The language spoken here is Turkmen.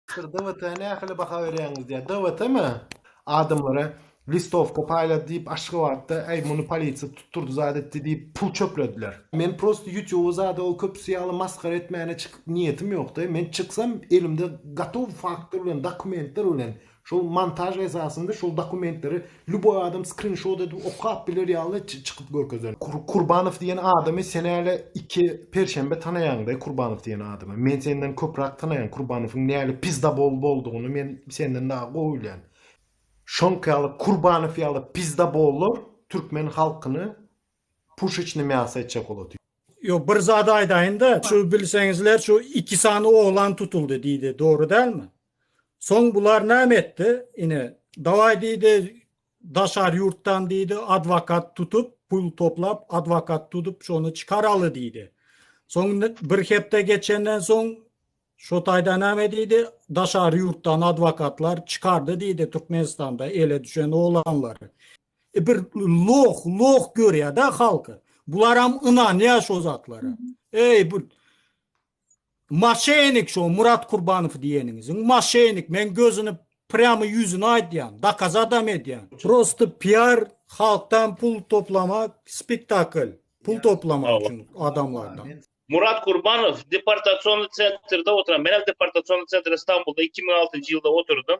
Siz DWT-a nähili baha berýäňiz? diýýär. DWT-mi? Adamlara listowka paýlady diýip, Aşgabatda, äý, muny polisiýa tutdurdy zat etdi diýip, pul çöplediler. Men prosta ýutýuba zada ol köpüsi ýaly masgara etmäne çykyp niýetim ýok-da. Men çyksam, elimde gotow faktlar bilen, dokumentler bilen Şol montaž esasynda şol dokumentleri lýuboý adam skrinşot edip okap biler ýaly çykyp görkezen. Kurbanow diýen adamy sen äle iki perşenbe tanaýaň daý Kurbanow diýen adamy. Men senden köprak tanaýan Kurbanowyň näle pizdabol boldugyny men senden dagy gowy bilýän. Şoňky ýaly Kurbanow ýaly pizdabollar türkmen halkyny puşeçne miasa etjek bolat. Ýok bir zat aýdaýynda şu bilseňizler şu iki sany oglan tutuldy diýdi dogry dälmi? Soň bular näme etdi? Ine, dawaý diýdi, daşary ýurtdan diýdi, adwokat tutup, pul toplap, adwokat tutup, şony çykaraly diýdi. Soň bir hepde geçenden soň şo taýda näme diýdi? Daşary ýurtdan adwokatlar çykardy diýdi Türkmenistanda ele düşen oglanlary. E bir loh, loh görýär-de halky. Bularam ynanýar şo zatlara. Eý, bu Maşenik şo Murat Kurbanow diýeniňiziň maşenik men gözüni prýamy ýüzüni aýdýan dakaz adam edýän. Prosta piar halkdan pul toplamak spektakl pul toplamak üçin adamlardan. Murat Kurbanow deportasionly sentrde oturan menem deportasionly sentrde Stambulda iki müň altynjy ýylda oturdym.